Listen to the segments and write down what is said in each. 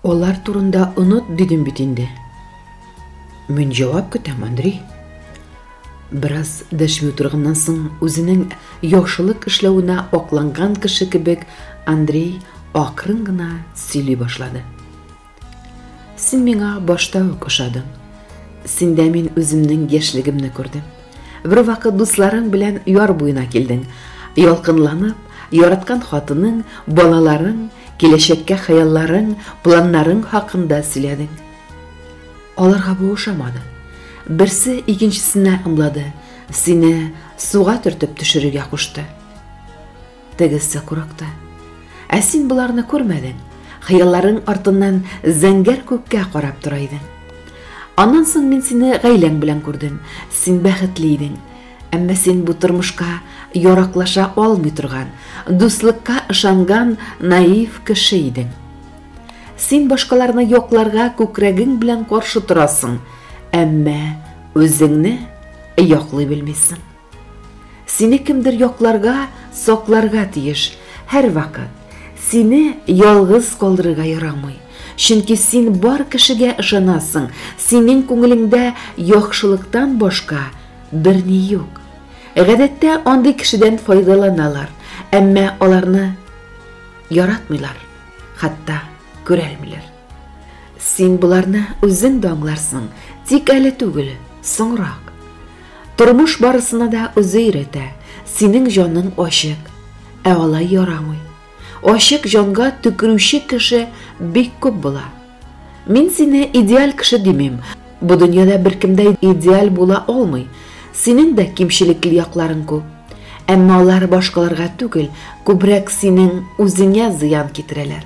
Алар турында онот дидем бит инде. Мин җавап көтәм, Андрей. Бераз дәшми утырганнан соң үзенең яхшылык эшләвенә акланган кеше кебек Андрей акрын гына сөйли башлады. Син миңа башта ук ошадың. Синдә мин үземнең яшьлегемне күрдем. Бер вакыт дусларың белән яр буена килдең. Ялкынланып, яраткан хатының, балаларың, киләчәккә хыялларың, планнарың хакында сөйләдең. Аларга бу ошамады. Берсе икенчесенә ымлады, сине суга төртеп төшерергә кушты. Тегесе курыкты. Ә син боларны күрмәдең. Хыялларың артыннан зәңгәр күккә карап тора идең. Аннан соң мин сине гаиләң белән күрдем. Син бәхетле идең. Әмма син бу тормышка яраклаша алмый торган, дуслыкка ышанган наив кеше идең. Син башкаларны якларга күкрәгең белән каршы торасың, әмма үзеңне яклый белмисең. Сине кемдер якларга, сакларга тиеш, һәрвакыт. Сине ялгыз калдырырга ярамый, чөнки син бар кешегә ышанасың, синең күңелеңдә яхшылыктан башка берни юк. Гадәттә андый кешедән файдаланалар, әмма аларны яратмыйлар, хәтта күрәлмиләр. Син боларны үзең дә аңларсың, тик әле түгел, соңрак. Тормыш барысына да үзе өйрәтә, синең җаның ачык, ә алай ярамый. Ачык җанга төкерүче кеше бик күп була. Мин сине идеаль кеше димим, бу дөньяда беркем дә идеаль була алмый. Синең дә кимчелекле якларың күп. Әмма алар башкаларга түгел, күбрәк синең үзеңә зыян китерәләр.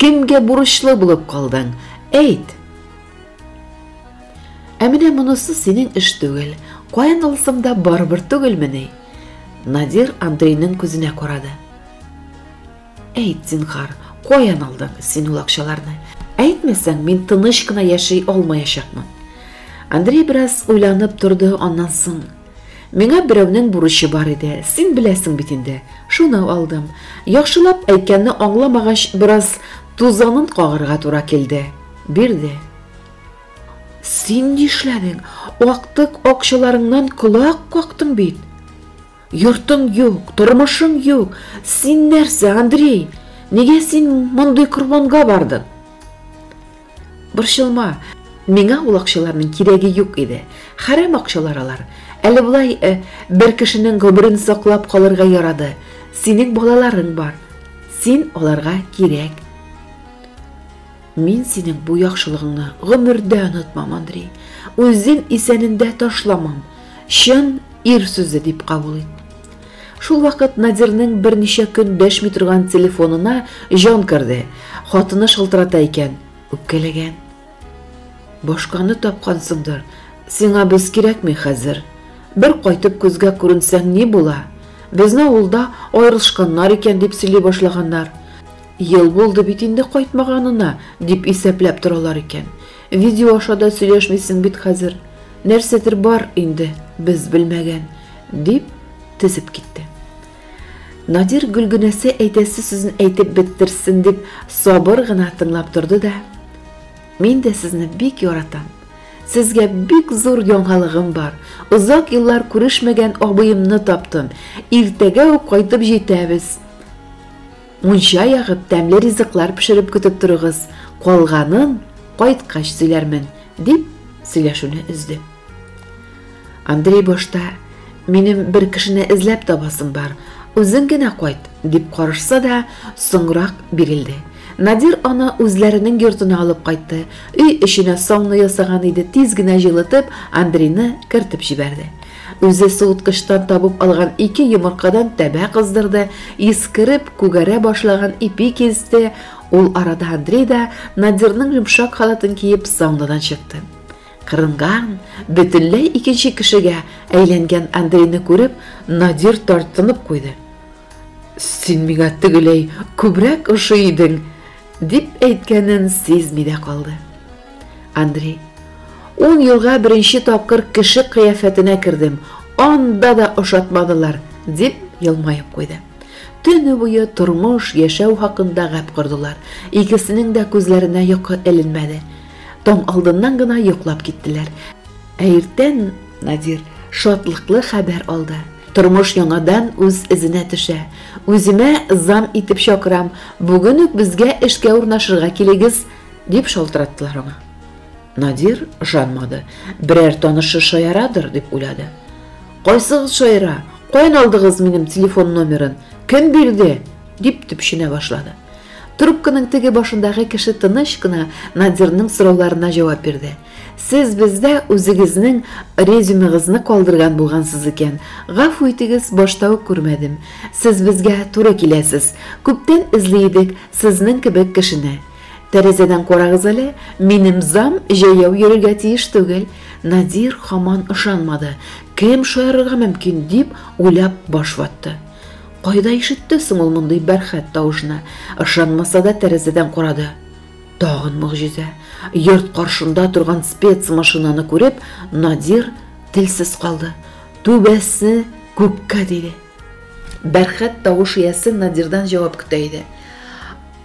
Кемгә бурычлы булып калдың? Әйт! Ә менә монысы синең эш түгел. Каян алсам да барыбер түгелмени? Надир Андрейның күзенә карады. Әйт, зинхар, каян алдың син ул акчаларны? Әйтмәсәң, мин тыныч кына яши алмаячакмын. Андрей бераз уйланып торды, аннан соң Миңа берәүнең бурычы бар иде, син беләсең бит инде. Шуны алдым. Яхшылап әйткәнне аңламагач, бераз тузанын кагырга туры килде. Бирде. Син нишләдең? Актык акчаларыңнан колак кактың бит. Йортың юк, тормышың юк. Син нәрсә, Андрей? Нигә син мондый корбанга бардың? Борчылма, миңа ул акчаларның кирәге юк иде. Хәрәм акчалар алар. Әле болай э, бер кешенең гомерен саклап калырга ярады. Синең балаларың бар. Син аларга кирәк. Мин синең бу яхшылыгыңны гомердә онытмам, Андрей. Үзем исәнендә ташламам. Чын ир сүзе дип кабул ит. Шул вакыт Надирнең берничә көн дәшми торган телефонына җан керде. Хатыны шылтырата икән. Үпкәләгән. Башканы тапкансыңдыр. Сиңа без кирәкми хәзер. Бер кайтып күзгә күренсәң ни була? Безне авылда аерылышканнар икән, дип сөйли башлаганнар. Ел булды бит инде кайтмаганына, дип исәпләп торалар икән. Видео аша да сөйләшмисең бит хәзер. Нәрсәдер бар инде, без белмәгән. Дип, тезеп китте. Надир Гөлгенәсе әйтәсе сүзен әйтеп беттерсен дип сабыр гына тыңлап торды да, Мин дә сезне бик яратам. Сезгә бик зур яңалыгым бар. Озак еллар күрешмәгән абыемны таптым. Иртәгә үк кайтып җитәбез. Мунча ягып, тәмле ризыклар пешереп көтеп торыгыз. Калганын кайткач сөйләрмен, дип сөйләшүне өзде. Андрей башта, Минем бер кешене эзләп табасым бар, үзең генә кайт, дип карышса да, соңрак бирелде. Надир аны үзләренең йортына алып кайтты. Өй эченә сауна ясаган иде, тиз генә җылытып, Андрейны кертеп җибәрде. Үзе суыткычтан табып алган ике йомыркадан тәбә кыздырды, искереп, күгәрә башлаган ипи кисте. Ул арада Андрей да Надирның йомшак халатын киеп саунадан чыкты. Кырынган, бөтенләй икенче кешегә әйләнгән Андрейны күреп, Надир тартынып куйды. Син миңа тегеләй күбрәк ошый идең, дип әйткәнен сизми дә калды. Андрей, ун елга беренче тапкыр кеше кыяфәтенә кердем, анда да ошатмадылар, дип елмаеп куйды. Төне буе тормыш, яшәү хакында гәп кордылар. Икесенең дә күзләренә йокы эленмәде. Таң алдыннан гына йоклап киттеләр. Ә иртән Надир шатлыклы хәбәр алды. Тормыш яңадан үз эзенә төшә. Үземә зам итеп чакырам, бүген үк безгә эшкә урнашырга килегез, дип шалтыраттылар аңа. Надир ышанмады. Берәр танышы шаярадыр, дип уйлады. Кайсыгыз шаяра? Каян алдыгыз минем телефон номерын? Кем бирде? дип төпченә башлады. Трубканың теге башындагы кеше тыныч кына Надирның сорауларына җавап бирде. Сез бездә үзегезнең резюмегызны калдырган булгансыз икән. Гафу итегез, башта ук күрмәдем. Сез безгә туры киләсез. Күптән эзли идек сезнең кебек кешене. Тәрәзәдән карагыз әле, минем зам җәяү йөрергә тиеш түгел. Надир хаман ышанмады. Кем шаярырга мөмкин, дип уйлап баш ватты. Кайда ишетте соң ул мондый бәрхәт тавышны? Ышанмаса да тәрәзәдән карады. Тагын могҗиза. Йорт каршында торган спецмашинаны күреп, Надир телсез калды. Түбәсе күккә диде. Бәрхәт тавыш иясе Надирдан җавап көтә иде.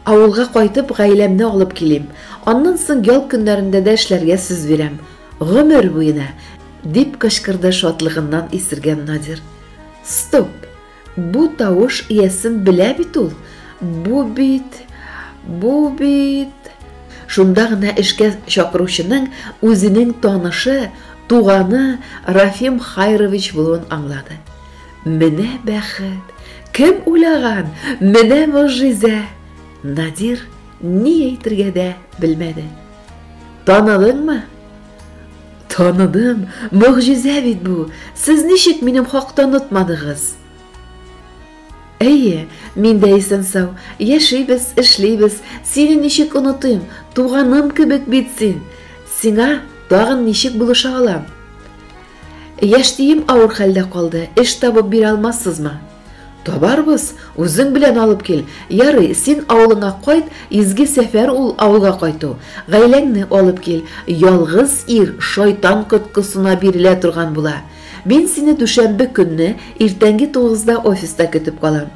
Авылга кайтып, гаиләмне алып килим. Аннан соң ял көннәрендә дә эшләргә сүз бирәм. Гомер буена, дип кычкырды шатлыгыннан исергән Надир. Стоп! Бу тавыш иясен белә бит ул. Бу бит, бу бит. Шунда гына эшкә чакыручының үзенең танышы, туганы Рафим Хайрович булуын аңлады. Менә бәхет! Кем уйлаган? Менә могҗиза! Надир ни әйтергә дә белмәде. Таныдыңмы? Таныдым, могҗизә бит бу. Сез ничек минем хакта онытмадыгыз? Әйе, мин дә исән-сау, яшибез, эшлибез. Сине ничек онытыйм? Туганым кебек бит син. Сиңа тагын ничек булыша алам? Яшьтием авыр хәлдә калды, эш табып бирә алмассызмы? Табарбыз, үзең белән алып кил. Ярый, син авылыңа кайт, изге сәфәр ул авылга кайту. Гаиләңне алып кил. Ялгыз ир шайтан коткысына бирелә торган була. Мин сине дүшәмбе көнне иртәнге тугызда офиста көтеп калам.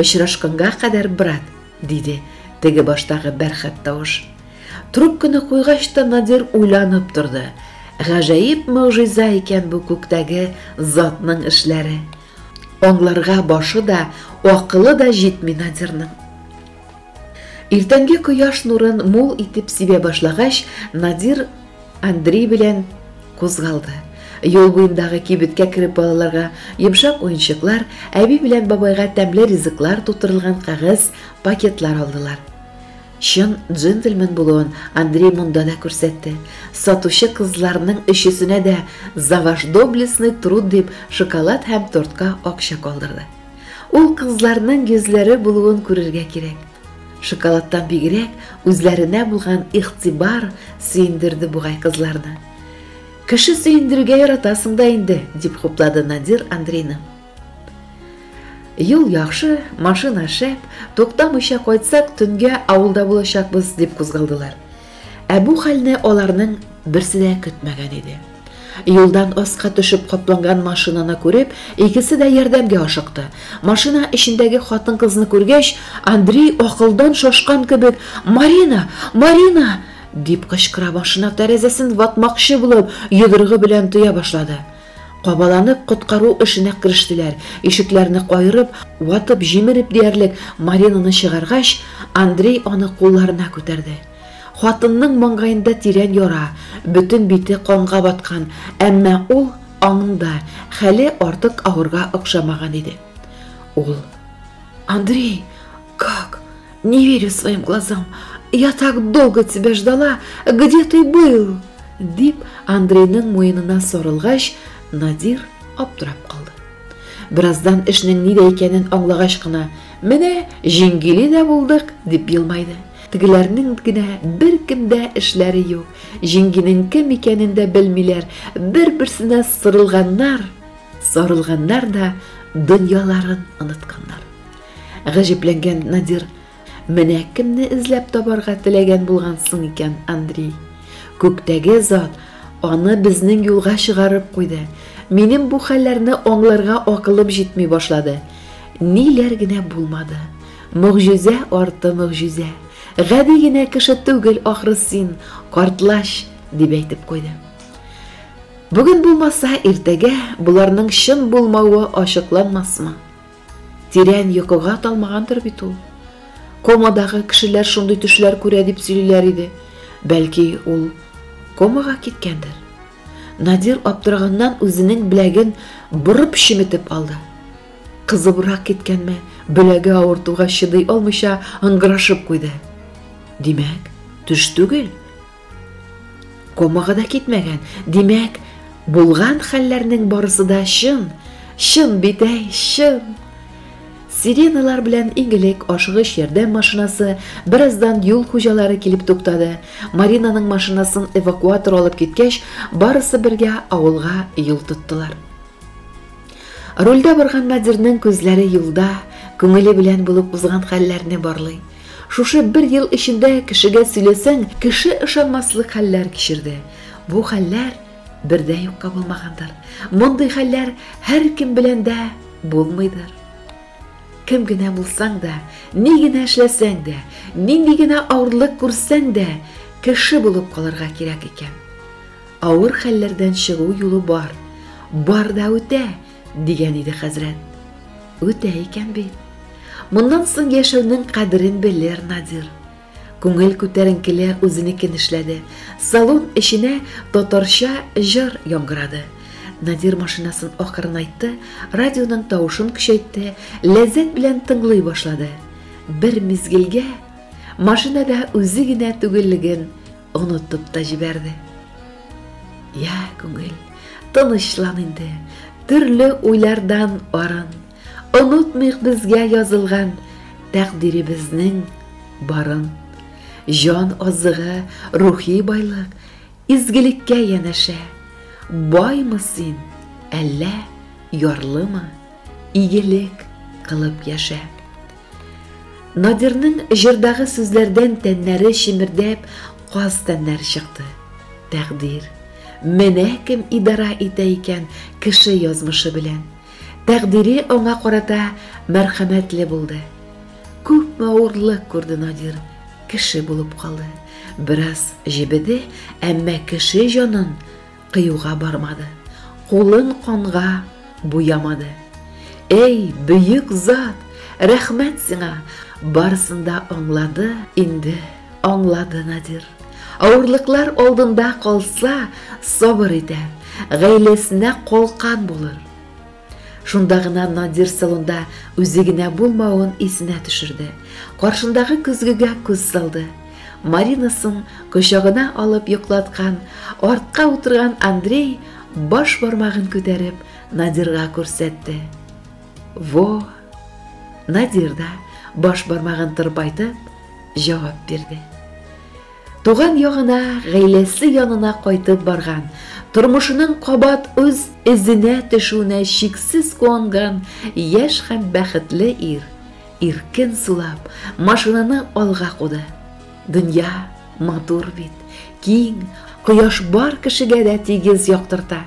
Очрашканга кадәр, брат, диде теге баштагы бәрхәт тавыш. Трубканы куйгач та Надир уйланып торды. Гаҗәеп могҗиза икән бу күктәге затның эшләре. Аңларга башы да, акылы да җитми Надирның. Иртәнге кояш нурын мул итеп сибә башлагач, Надир Андрей белән кузгалды. Юл буендагы кибеткә кереп балаларга йомшак уенчыклар, әби белән бабайга тәмле ризыклар тутырылган кәгазь пакетлар алдылар. Чын джентльмен булуын Андрей монда да күрсәтте. Сатучы кызларның өчесенә дә За ваш доблестный труд дип шоколад һәм тортка акча калдырды. Ул кызларның йөзләре булуын күрергә кирәк. Шоколадтан бигрәк, үзләренә булган игътибар сөендерде бугай кызларны. Кеше сөендерергә яратасың да инде, дип хуплады Надир Андрейны. Юл яхшы, машина шәп, туктамыйча кайтсак, төнгә авылда булачакбыз, дип кузгалдылар. Ә бу хәлне аларның берсе дә көтмәгән иде. Юлдан аска төшеп капланган машинаны күреп, икесе дә ярдәмгә ашыкты. Машина эчендәге хатын-кызны күргәч, Андрей акылдан шашкан кебек, "Марина! Марина!" дип кычкыра машина тәрәзәсен ватмакчы булып, йодрыгы белән төя башлады. Кабаланып, коткару эшенә керештеләр. Ишекләрне каерып, ватып-җимереп диярлек Маринаны чыгаргач, Андрей аны кулларына күтәрде. Хатынның маңгаенда тирән яра, бөтен бите канга баткан, әмма ул аңында, хәле артык авырга охшамаган иде. Ул. Андрей! Как? Не верю своим глазам. Я так долго тебя ждала. Где ты был? Дип, Андрейның муенына сорылгач, Надир аптырап калды. Бераздан эшнең нидә икәнен аңлагач кына, менә җиңгиле дә булдык, дип елмайды. Тегеләрнең генә бер кемдә эшләре юк. Җиңгинең кем икәнен дә белмиләр, бер-берсенә сырылганнар, сарылганнар да дөньяларын онытканнар. Гаҗәпләнгән Надир, Менә кемне эзләп табарга теләгән булгансың икән, Андрей. Күктәге зат аны безнең юлга чыгарып куйды. Минем бу хәлләрне аңларга акылым җитми башлады. Ниләр генә булмады. Могҗизә арты могҗизә. Гади генә кеше түгел ахры син, картлач, дип әйтеп куйды. Бүген булмаса, иртәгә боларның чын булмавы ачыкланмасмы? Тирән йокыга талмагандыр бит ул. Комадагы кешеләр шундый төшләр күрә дип сөйлиләр иде. Бәлки, ул комага киткәндер? Надир аптыраганнан үзенең беләген борып чеметеп алды. Кызыбрак киткәнме, беләге авыртуга чыдый алмыйча ыңгырашып куйды. Димәк, төш түгел. Комыгы да китмәгән. Димәк, булган хәлләрнең барысы да чын. Чын бит әй, чын. Сиреналар белән иң элек ашыгыч ярдәм машинасы, бераздан юл хуҗалары килеп туктады. Маринаның машинасын эвакуатор алып киткәч, барысы бергә авылга юл тоттылар. Рульдә барган Надирның күзләре юлда, күңеле белән булып узган хәлләрне барлый. Шушы бер ел эчендә кешегә сөйләсәң, кеше ышанмаслык хәлләр кичерде. Бу хәлләр бер дә юкка булмагандыр. Мондый хәлләр һәркем белән дә булмыйдыр. Кем генә булсаң да, ни генә эшләсәң дә, нинди генә авырлык күрсәң дә, кеше булып калырга кирәк икән. Авыр хәлләрдән чыгу юлы бар. Бар да үтә, Дигән иде хәзрәт. Үтә икән бит. Моннан соң яшәүнең кадерен белер Надир. Күңел күтәренкеле үзенекен эшләде. Салон эченә татарча җыр яңгырады. Надир машинасын акырынайтты, радионың тавышын көчәйтте, ләззәт белән тыңлый башлады. Бер мизгелгә машинада үзе генә түгеллеген Онытып та җибәрде. Я, күңел, тынычлан инде, төрле уйлардан арын. Онытмыйк безгә язылган тәкъдиребезнең барын. Җан азыгы, рухи байлык, изгелеккә янәшә. Баймы син, әллә ярлымы, игелек кылып яшә. Надирның җырдагы сүзләрдән тәннәре чемердәп, каз тәннәре чыкты. Тәкъдир. Менә кем идарә итә икән кеше язмышы белән. Тәкъдире аңа карата мәрхәмәтле булды. Күпме авырлык күрде Надир, кеше булып калды. Бераз җебеде, әмма кеше җанын кыюга бармады, кулын канга буямады. Эй, бөек зат, рәхмәт сиңа, барысын да аңлады инде, аңлады Надир. Авырлыклар алдында калса, сабыр итәр, гаиләсенә калкан булыр. Шунда гына Надир салонда үзе генә булмавын исенә төшерде. Каршындагы көзгегә күз салды. Маринасын кочагына алып йоклаткан, артка утырган Андрей баш бармагын күтәреп Надирга күрсәтте. Во! Надир да баш бармагын тырпайтып җавап бирде. Туган ягына, гаиләсе янына кайтып барган, тормышының кабат үз эзенә төшүенә чиксез куанган яшь һәм бәхетле ир, иркен сулап, машинаны алга куды. Дөнья матур бит, киң, кояш бар кешегә дә тигез яктырта.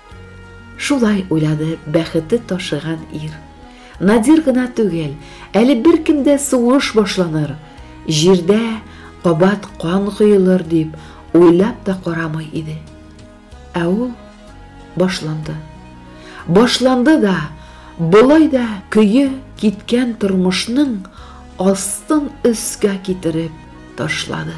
Шулай уйлады бәхете ташыган ир. Надир гына түгел, әле беркем дә сугыш башланыр, җирдә кабат кан коелыр дип уйлап та карамый иде. Ә ул башланды. Башланды да, болай да көе киткән тормышның астын өскә китереп ташлады.